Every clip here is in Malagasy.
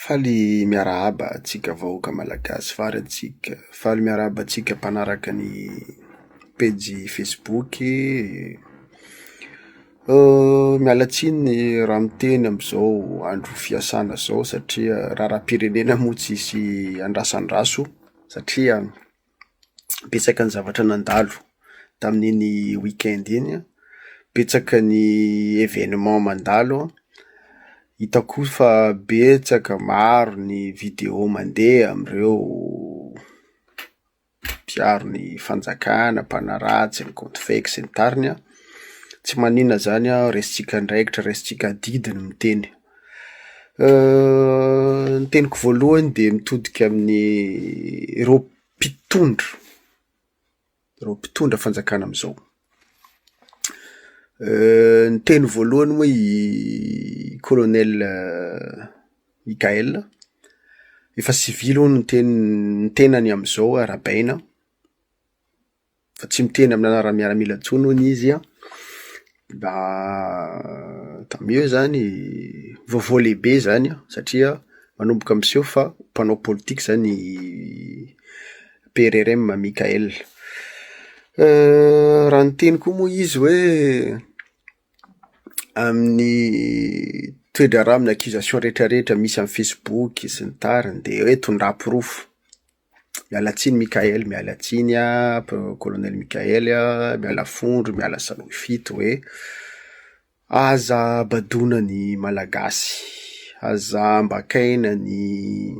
Faly miarahaba antsika vahoaka malagasy fary antsika. Faly miarahaba antsika mpanaraka ny pejy facebook e. Miala tsiny raha miteny amizao andro fiasana zao satria raharam-pirenena moa tsisy andrasandraso satria. betsaka ny zavatra nandalo tamin'iny week-end iny an, betsaka ny événement mandalo an, hitako koa fa betsaka maro ny vidéo mandeha amin'ireo mpiaro ny fanjakana, mpanaratsy, ny compte fake sy ny tariny an, tsy maninona izany an, resintsika andraikitra, resintsika adidy ny miteny. Ny teniko voalohany dia mitodika amin'ny ireo mpitondra, ireo mpitondra fanjakana amin'izao. Ny teny voalohany moa i kolonely Mikael, efa sivily hono ny ten- ny tenany amin'izao arahabaina. fa tsy miteny amin'ny anaran'ny miaramila intsony hono izy an, mba tant mieux izany, vaovao lehibe izany an, satria manomboka miseho fa mpanao politika izany i PRRM Mickaël. Raha niteny koa moa izy hoe amin'ny toe-draharaha amin'ny accusation rehetrarehetra misy amin'ny facebook sy ny tariny dia hoe tondraha porofo. Miala tsiny Mickael, miala tsiny an, Colonel Mickael an, miala fondro, miala salohy fito hoe, aza badoina ny Malagasy, aza ambakaina ny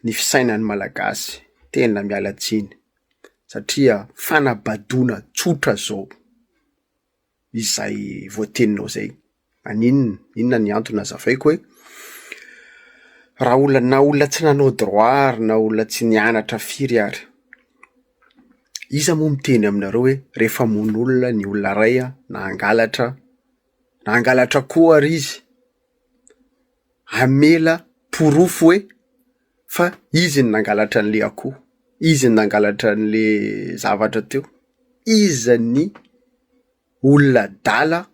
ny fisainan'ny Malagasy, tena miala tsiny, satria fanabadoina tsotra zao. izay voateninao izay. Aninona? Inona ny antony? Azavaiko hoe raha olona na olona tsy nanao droit ary na olona tsy nianatra firy ary, iza moa miteny aminareo hoe rehefa hamono olona ny olona iray an, na hangalatra, na hangalatra akoho ary izy, hamela porofo hoe fa izy no nangalatra an'ilay akoho, izy no nangalatra an'ilay zavatra teo, iza ny olona adala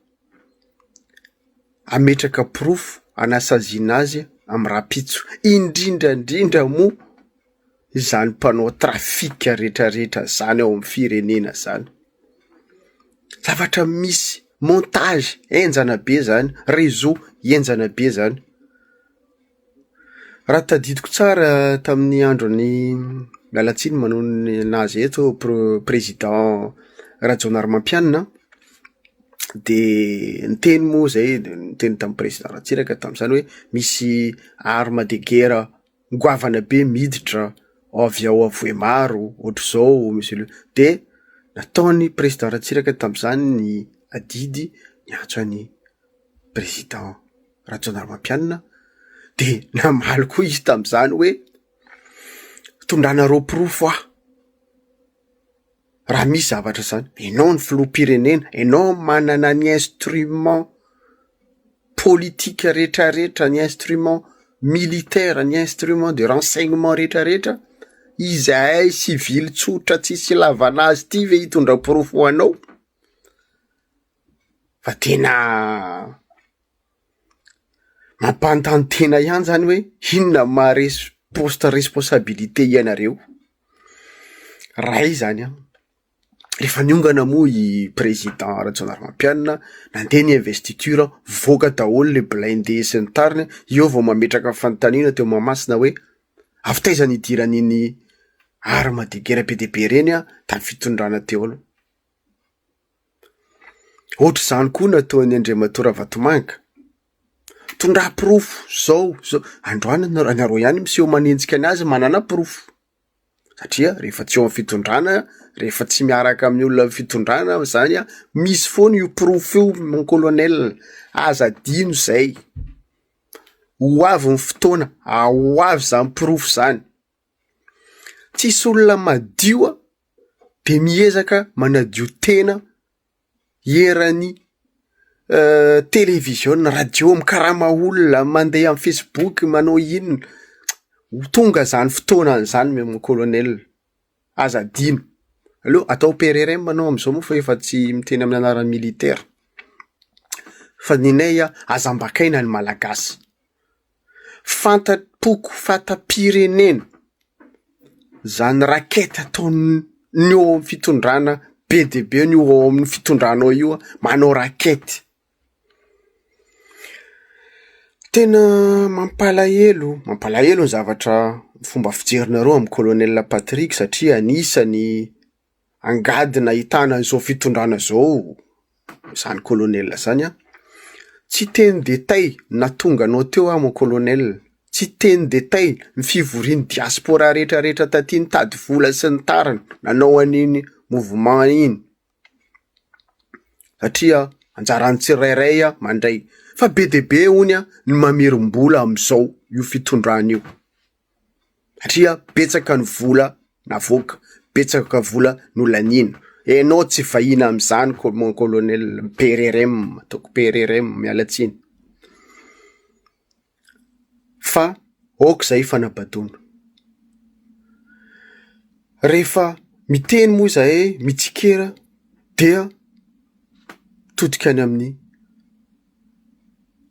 hametraka porofo hanasaziana azy amin'ny rahampitso, indrindra indrindra moa izany mpanao trafika rehetra rehetra izany ao amin'ny firenena izany. Zavatra misy montage henjana be zany, réseau henjana be zany. Raha tadidiko tsara tamin'ny andron'i Mialatsiny manoloana an'azy eto pro- président Rajaonarimampianina an, de niteny moa zay, niteny tamin'ny président Ratsiraka tamin'izany hoe misy arme de guerre. goavana be miditra avy ao Avohemaro ohatr'izao Monsieur le dia nataon'ny Président Ratsiraka tamin'izany ny adidy niantso an'i Président Rajaonarimampianina dia namaly koa izy tamin'izany hoe tondranareo porofo aho. Raha misy zavatra zany, enao ny filoham-pirenena, enao no manana ny instrument politique rehetra rehetra, ny instrument militaire, ny instrument de renseignement rehetra rehetra, izahay sivily tsotra tsisy ilavana azy ity ve hitondra porofo ho anao? Fa tena mampanontany tena ihany zany hoe inona no maharesy poste responsabilité ianareo? Ray zany an! Rehefa niongana moa i président Rajaonarimampianina nandeha ny investiture an, nivoaka daholo le blindé sy ny tariny an, eo vao mametraka fanontaniana teo Mahamasina hoe avy taiza ny hidiran'iny arme de guerre be dia be reny an tamin'ny fitondrana teo aloha. Ohatr'izany koa no ataon'i Andriamatoa Ravatomanga. Tondrahy porofo, zao, zao. Androany ianareo, ianareo ihany miseho manenjika ny azy manana porofo. Satria rehefa tsy eo amin'ny fitondrana, rehefa tsy miaraka amin'ny olona amin'ny fitondrana zany an, misy foana io porofo io mon colonel. Aza adino zay. Ho avy ny fotoana, ah, ho avy zany porofo zany. Tsisy olona madio a de miezaka manadio tena eran'ny televiziona, radio, mikarama olona, mandeha amin'ny facebook, manao inona, ho tonga zany fotoanany zany moa mon colonel, aza adino, aleo atao PRRM anao amizao moa fa efa tsy miteny amin'ny anaran'ny militaire, fa ny anay aza ambakaina ny malagasy. fanta-poko fanta-pirenena zany racket ataon'ny ny eo amin'ny fitondrana be dia be ny eo amin'ny fitondrana ao io manao racket tena mampalahelo mampalahelo ny zavatra fomba fijerinareo amin'ny kolonela patrick satria anisany angady nahitana izao fitondrana izao izany colonel izany an! Tsy teny détail na tonga anao teo aho mon colonel, tsy teny détail ny fivorian'ny diaspora rehetra rehetra taty nitady vola sy ny tariny nanao an'iny mouvement iny satria anjaran'ny tsirairay an mandray fa be dia be honia ny mamerim-bola amin'izao io fitondrana io. satria betsaka ny vola navoaka, betsaka vola no laniana, enao tsy vahiny amzany ko- mon colonel PRRM ataoko PRRM miala tsiny, fa aoka zay fanabadoana, rehefa miteny moa zahay mitsikera dia mitodika any amin'ny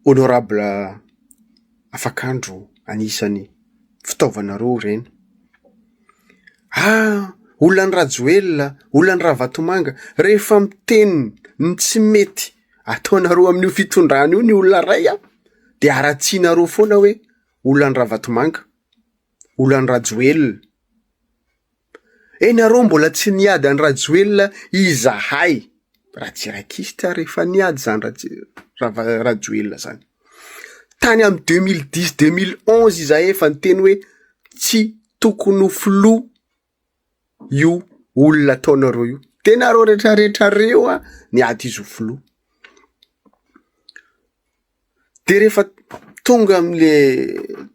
Honorable Afakandro anisany fitaovanareo ireny. Ah! Olona any Rajoelina, olona any Ravatomanga, rehefa miteny ny tsy mety ataonareo amin'io fitondrana io ny olona iray an, de aratsianareo foana hoe olona any Ravatomanga, olona any Rajoelina. Eh nareo mbola tsy niady an'i Rajoelina izahay raha tsy rakista ary efa niady zany Rava Rajoelina zany. Tany amin'ny deux mille dix, deux mille onze izahay efa niteny hoe tsy tokony ho filoha io olona ataonareo io. De nareo retraretra reo a niady izy ho filoha. Dia rehefa tonga amin'le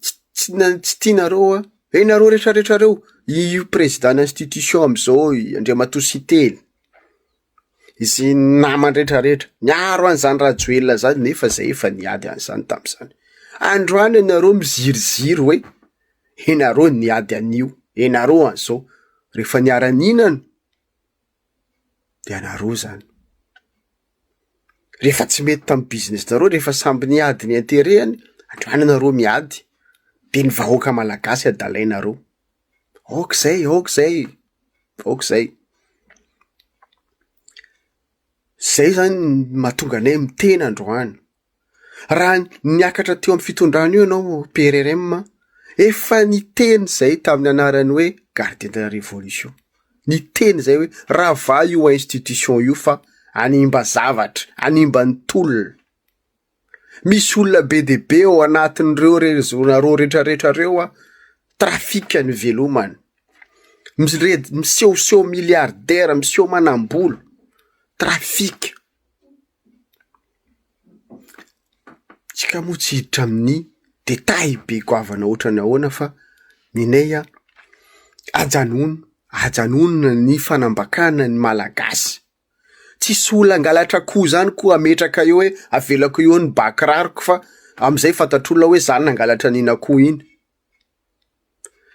tsy tsy tianareo hoe eh nareo rehetra rehetra reo io président institution amizao andriamatoa siteny sy ny namany rehetra rehetra miaro an'izany rajoelina zany nefa zay efa niady an'izany tamizany androany ianareo miziriziry hoe ianareo niady an'io ianareo an'izao rehefa niara nihinana de anareo zany. Rehefa tsy mety tamin'ny business-nareo, rehefa samby niady ny interet-ny, andao any nareo miady, de ny vahoaka malagasy adalainareo. Ok zay, ok zay, ok zay. Zay zany no mahatonga anay miteny androany. Raha niakatra teo amin'ny fitondrana io ianao PRRM an, efa niteny izay tamin'ny anarany hoe Gardiens de la Révolution. Niteny izay hoe ravaha io institution io fa hanimba zavatra, hanimba ny tolona. Misy olona be dia be ao anatin'ireo rezonareo rehetrarehetra ireo an, trafika ny velomany. Mired- Misehoseho milliardaire, miseho manam-bolo, trafika. Tsika moa tsy hiditra amin'ny détail be goavana ohatrany ahoana fa ny anay an, ajanony, ajanony ny fanambakana ny Malagasy. Tsisy olona hangalatra akoho izany koa hametraka eo hoe avelako eo ny bà kiraroko fa amin'izay fantatr'olona hoe izaho no nangalatra an'iny akoho iny.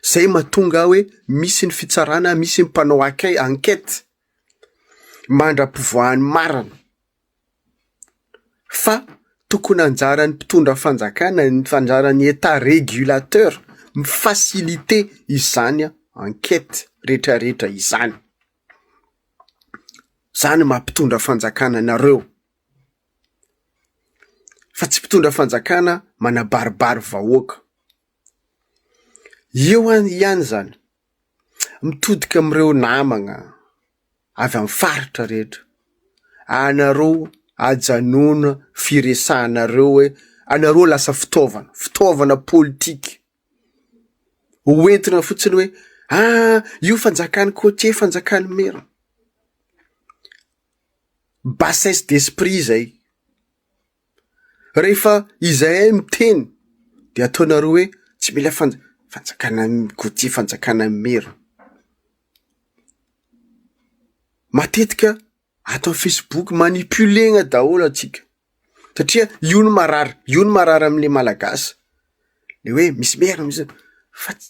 Izay mahatonga ahy hoe misy ny fitsarana, misy ny mpanao enquête. mandra-pivoahan'ny marina, fa tokony anjaran'ny mpitondra fanjakana, anjaran'ny Etat regulateur mi faciliter izany enquete rehetra rehetra izany. Zany no maha mpitondra fanjakana anareo, fa tsy mpitondra fanjakana manabaribary vahoaka. Eo ihany zany Mitodika amin'ireo namagna avy amin'ny faritra rehetra. Anareo ajanona firesahanareo hoe anareo lasa fitaovana, fitaovana politika. Ho entina fotsiny hoe ah io fanjakan'ny cotier, fanjakan'ny maire. Bassesse d'esprit zay. Rehefa izahay miteny dia ataonareo hoe tsy mila fanja- fanjakana Gautier fanjakana merina. Matetika ato amin'ny facebook manipulena daholo antsika satria io no marary io no marary amin'ilay malagasy le hoe misy merina misy fa tsy.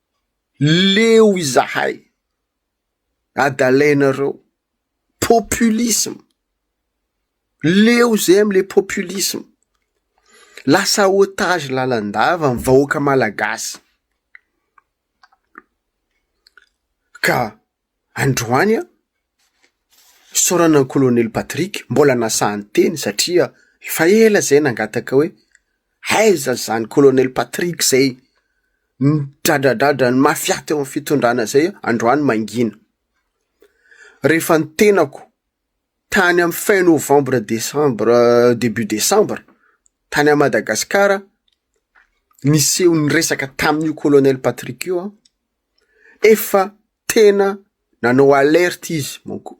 Leo izahay adalainareo populisme, leo zay amle populisme, lasa otage lalandava ny vahoaka malagasy ka. Androany an, isaorana an'i Kolonely Patrick mbola nasaha niteny satria efa ela izay nangataka hoe aiza izany Kolonely Patrick izay nidradradradran'ny mafia teo amin'ny fitondrana izay androany mangina. Rehefa ny tenako tany amin'ny fin novembre décembre euh, début décembre tany à Madagascar niseho ny resaka tamin'io colonel Patrick io an, Efa tena nanao alerte izy manko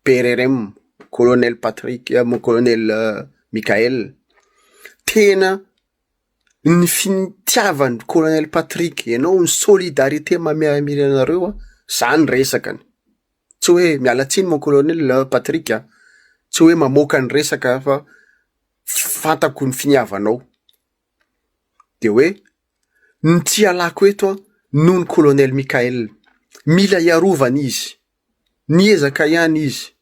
PRRM, Colonel Patrick, Colonel Mickaël. Tena ny fitiavan'i Colonel Patrick ianao, ny solidarité maha-miaramila anareo an, zany resakany. Tsy hoe miala tsiny mon Colonel Patrick an, tsy hoe mamoaka ny resaka fa fantako ny finiavanao. Dia hoe, ny tsy ialako eto an, noho ny kolonely Mickael. Mila iarovana izy. Niezaka ihany izy.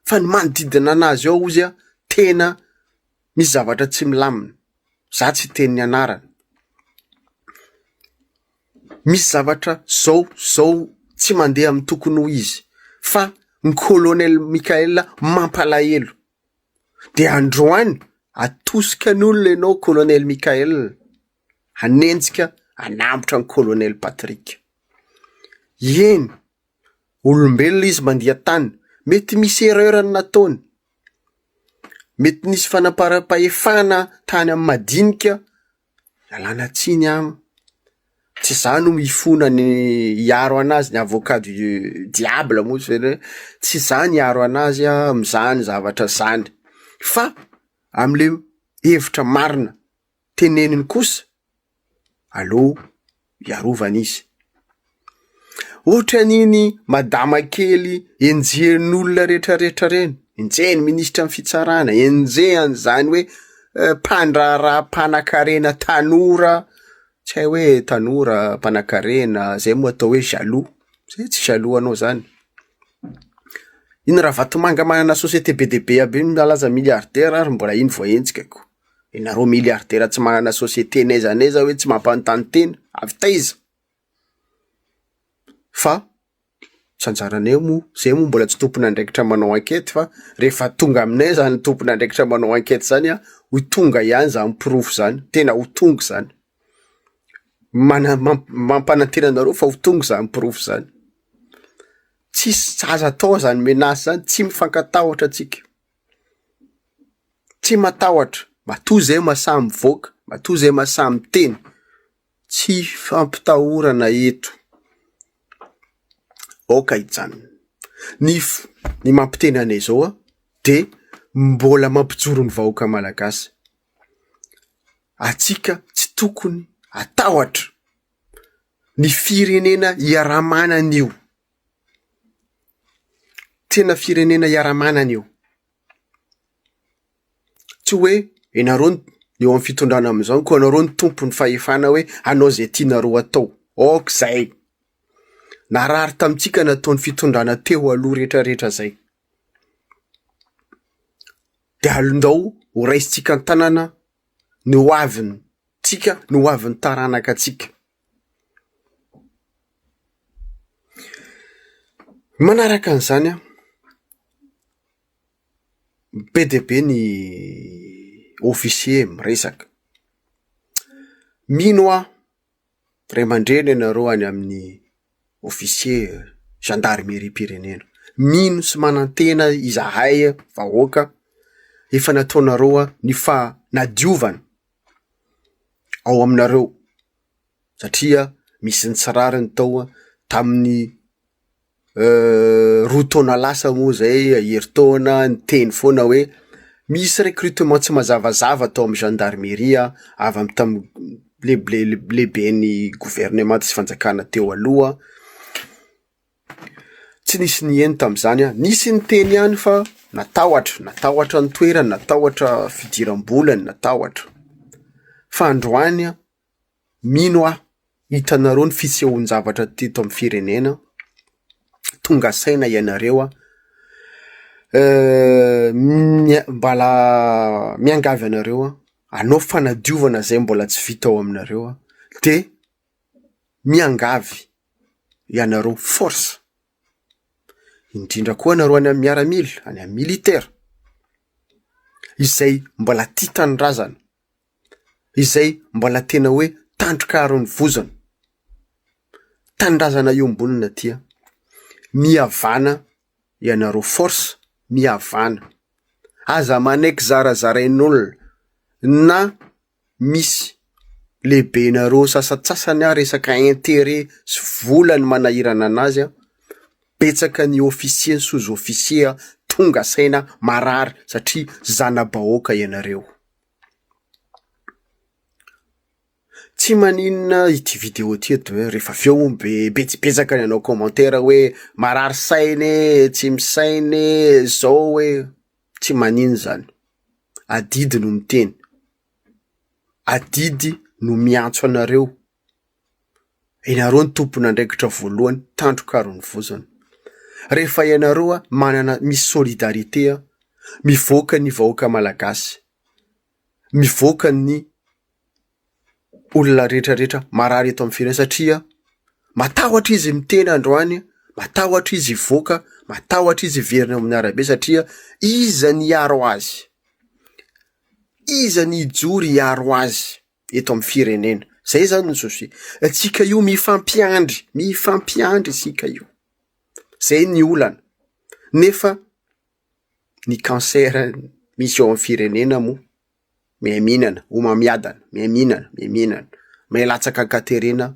Fa ny manodidina anazy ao ozy an, tena misy zavatra tsy milamina. Za tsy hiteny ny anarany. Misy zavatra zao, zao tsy mandeha amin'ny tokony ho izy. Fa ny kolonely Mickael mampalahelo. de androany atosika ny olona ianao kolonely Mickaël hanenjika hanambotra ny kolonely Patrick eny olombelona izy mandiha tany mety misy erreur ny nataony mety nisy fanamparam-pahefana tany amin'ny madinika Ialana tsiny an! Tsy izaho no hifona ny hiaro an'azy ny avocat du diable moa zay hoe tsy izaho no hiaro an'azy amin'izany zavatra izany fa amin'ilay hevitra marina teneniny kosa aleo. hiarovana izy. Ohatran'iny madama kely enjehin'olona retraretra reny, enjehin'ny minisitra ny fitsarana, enjehan'izany hoe eh, mpandraharaha mpanakarena tanora, tsy hay hoe tanora mpanakarena, zay moa atao hoe jaloux, zay tsy jaloux anao zany. Iny Ravatomanga manana société be dia be aby iny mialaza milliardaire ary mbola iny voahenjika ko. Ianareo milliardaires tsy manana société n'aiza n'aiza hoe tsy mampanontany tena, avy taiza? Fa tsy anjaranay moa, zay moa mbola tsy tompon'andraikitra manao enquête fa rehefa tonga aminay zany tompon'andraikitra manao enquête zany an, ho tonga ihany zany porofo zany, tena ho tonga zany. Mana- mam- mampanantena anareo fa ho tonga zany porofo zany. Tsisy, aza atao zany menace zany, tsy mifankatahotra tsika. Tsy matahotra, matoa izay mahasahy mivoaka, matoa izay mahasahy miteny. Tsy fampitahorana eto. Aoka hijanona. Ny ny mampiteny anay izao an, dia mbola mampijoro ny vahoaka malagasy. Antsika tsy tokony hatahotra ny firenena iaraha-manana io. Tena firenena iaraha-manana io. Tsy hoe ianareo no eo amin'ny fitondrana amin'izao koa ianareo no tompon'ny fahefana hoe hanao izay tianareo hatao. Ok izay. Narary tamintsika nataon'ny fitondrana teo aloha rehetra rehetra izay. Dia alindao ho raisintsika an-tanana ny ho avintsika, ny ho avin'ny taranaka antsika. Manaraka an'izany an, be dia be ny officiers miresaka. Mino aho, ray aman-dreny ianareo any amin'ny officiers zandarimerim-pirenena. Mino sy manantena izahay vahoaka efa nataonareo ny fanadiovana. ao aminareo satria misy ny tsy rariny tao an, tamin'ny roa taona lasa moa zay herintaona niteny foana hoe misy recrutement tsy mazavazava tao amin'ny gendarmerie an, avy amin'ny tam- lehibe- lehiben'ny governemanta sy fanjakana teo aloha. Tsy nisy niheno tamin'izany aho. Nisy niteny ihany fa natahotra, natahotra ny toerany, natahotra fidiram-bolany, natahotra. Fa androany, mino aho, hitanareo ny fisehoan-javatra teto amin'ny firenena, tonga saina ianareo an, mbala miangavy anareo an, hanao fanadiovana izay mbola tsy vita ao aminareo an, dia. Miangavy ianareo force, indrindra koa anareo any amin'ny miaramila, any amin'ny militaire, izay mbola tia tanindrazana, izay mbola tena hoe tandroka aro ny vozona, tanindrazana iombonona aty an! Mihavana ianareo force, mihavana. Aza manaiky zarazarain'olona na misy lehibenareo sasantsasany ary resaka interet sy vola ny manahirana anazy an, betsaka ny officier ny sous officier tonga saina marary satria zanabahoaka ianareo. Tsy maninona ity video ity eto e, rehefa avy eo hono be betsibetsaka ny anao commentaire hoe marary saina e, tsy misaina e, zao e. Tsy manin zany. Adidy no miteny. Adidy no miantso anareo. Ianareo no tompon'andraikitra voalohany tandroka ary ny vozona. Rehefa ianareo manana misy solidarité mivoaka ny vahoaka malagasy mivoaka ny olona rehetra rehetra marary eto amin'ny firenena satria matahotra izy miteny androany, matahotra izy hivoaka, matahotra izy hiverina eo amin'ny arabe satria iza ny hiaro azy? Iza ny hijoro hiaro azy eto amin'ny firenena? Zay zany ny souci. Antsika io mifampiandry, mifampiandry isika io. Zay ny olana. Nefa. ny cancer misy eo amin'ny firenena moa miha-mihinana, homamiadana, miha-mihinana, miha-mihinana, miha-latsaka an-katerena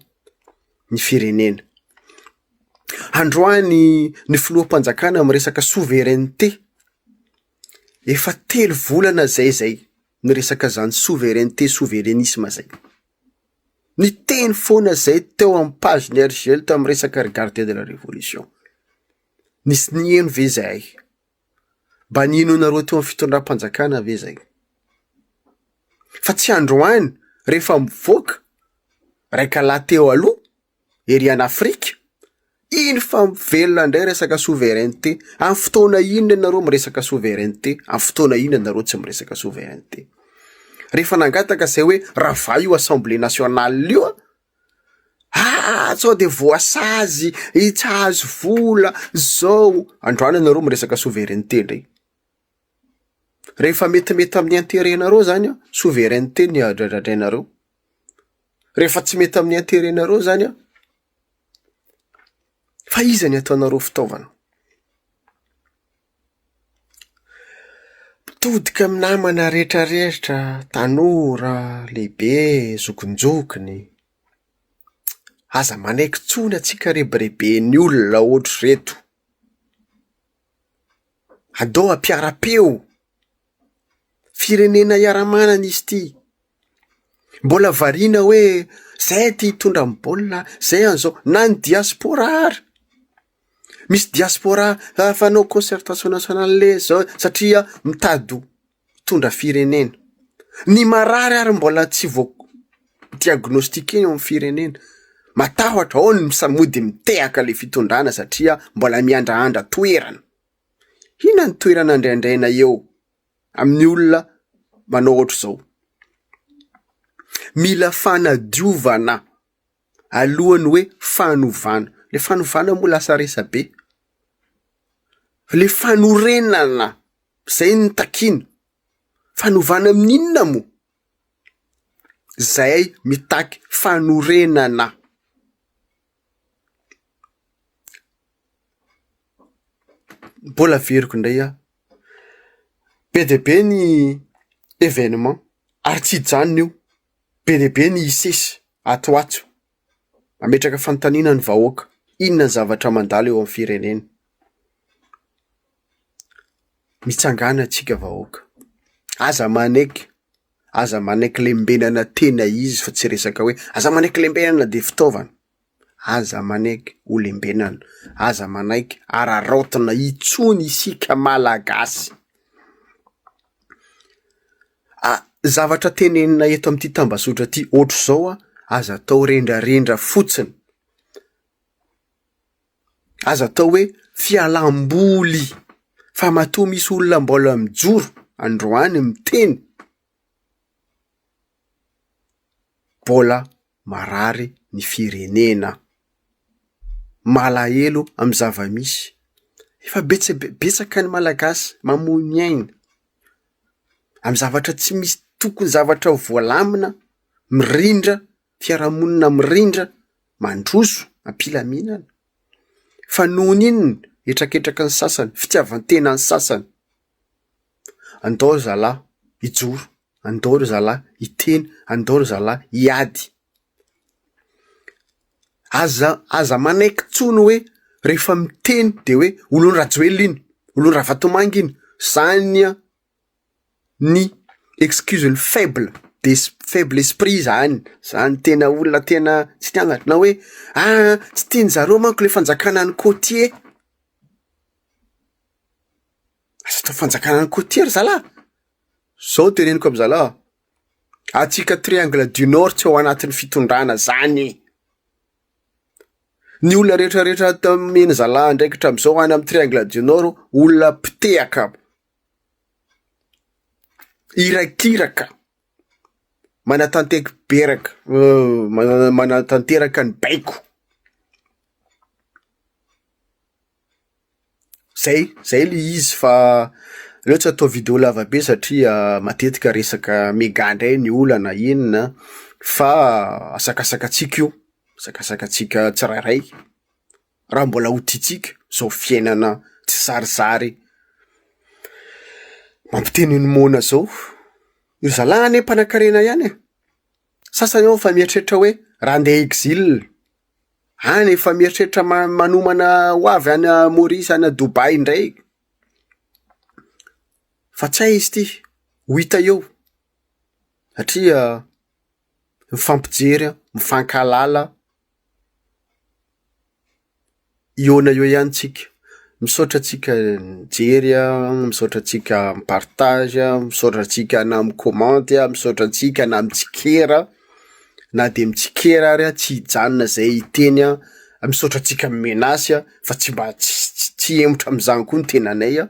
ny firenena. Androany ny filoham-panjakana miresaka souveraineté, efa telo volana zay zay miresaka zany souveraineté, souverenisme zay. Niteny foana zay teo amin'ny page ny RJL tamin'ny resaka regardez de la révolution. Nisy niheno ve izahay? Mba nihainoanareo teo amin'ny fitondram-panjakana ve izay? Fa tsy androany rehefa mivoaka raika lahy teo aloha ery an' Afrika, iny fa mivelona indray resaka souveraineté. Amin'ny fotoana inona ianareo miresaka souveraineté? Amin'ny fotoana inona ianareo tsy miresaka souveraineté? Rehefa nangataka izay hoe ravay io assemblée nationale io, Haa sao de voasazy i tsy hahazo vola zao, androany anareo miresaka souveraineté ndray, rehefa metimety amin'ny interet nareo zany an, souveraineté no adradradrainareo, rehefa tsy mety amin'ny interet nareo zany an, fa iza ny ataonareo fitaovana? Todika amin'ny namana rehetra rehetra, tanora, lehibe, zokinjokiny. Aza manaiky intsony antsika rebireben'ny olona ohatr'ireto. Aleo ampiara-peo. Firenena iara-manana izy ity. Mbola variana hoe zay aty hitondra amin'ny baolina, zay an'izao. Na ny diaspora ary. Misy diaspora fanao concertation nationale le zao satria mitady ho mpitondra firenena. Ny marary ary mbola tsy voa diagnostiquer eo amin'ny firenena. Matahotra, ao ny mody mitehaka le fitondrana satria mbola miandraandra toerana. Inona ny toerana andriandraina eo? amin'ny olona manao ohatr'izao. Mila fanadiovana alohan'ny hoe fanovana. Le fanovana moa lasa resabe. Le fanorenana, zay no takiana. Fanovana amin'ny inona moa? Zay mitaky fanorenana. Mbola averiko indray aho, be dia be ny événement ary tsy hijanona io, be dia be ny hisesy ato ho ato, mametraka fanontaniana ny vahoaka, inona ny zavatra mandalo eo amin'ny firenena? Mitsangàna antsika vahoaka, aza manaiky. aza manaiky lembenana tena izy fa tsy resaka hoe aza manaiky lembenana dia fitaovana. Aza manaiky ho lembenana, aza manaiky araraotina intsony isika Malagasy. A, zavatra tenenina eto amin'ity tambazotra ity ohatr'izao an, aza atao rendrarendra fotsiny. aza atao hoe fialam-boly fa matoa misy olona mbola mijoro androany miteny mbola marary ny firenena. Malahelo amin'ny zava-misy. Efa betsaka be- betsaka ny Malagasy mamoy ny ainy amin'ny zavatra tsy misy tokony zavatra voalamina mirindra. fiarahamonina mirindra, mandroso, am-pilaminana. Fa nohon' inona? Hetraketraky ny sasany, fitiavan-tena ny sasany. Andao ry zalahy hijoro, andao ry zalahy hiteny, andao ry zalahy hiady. Aza, aza manaiky intsony hoe rehefa miteny de hoe olon-dRajoelina iny, olon-dRavatomanga iny, zany an! ny excuse ny faible d'es- faible esprit zany, zany tena olona tena tsy tia an'zatra na hoe ah tsy tian'ny zareo manko le fanjakana ny côtier, aza atao fanjakana ny côtier ry zalahy, zao ny teneniko amy zalahy, antsika triangle du nord tsy ao anatin'ny fitondrana zany e, ny olona retraretra ato amy ny zalahy andraikitra amizao any amy triangle du nord olona mpitehaka aby. Irakiraka, manatanteky beraka, manatanteraka ny baiko. Zay, zay le izy fa aleo tsy atao video lava be satria matetika resaka mega ndray ny olana inona fa asakasakatsika io, asakasakatsika tsirairay. raha mbola ho tiantsika zao fiainana tsy sarisary mampiteny ny moana zao. Io zalahy anie mpanakarena ihany e. Sasany ao efa mieritreritra hoe raha ndeha exil, any efa mieritreritra ma- manomana ho avy any Maurice any Dubai indray. Fa tsy hay izy ty, ho hita eo satria mifampijery, mifankahalala. Hihaona eo ihany tsika. Misaotra antsika nijery an, misaotra antsika mi-partage an, misaotra antsika na mi-commenty an, misaotra antsika na mitsikera an, na de mitsikera ary an tsy hijanona zay hiteny an, misaotra antsika mi-menace an fa tsy mba ts- tsy hemotra am'zany koa ny tenanay an.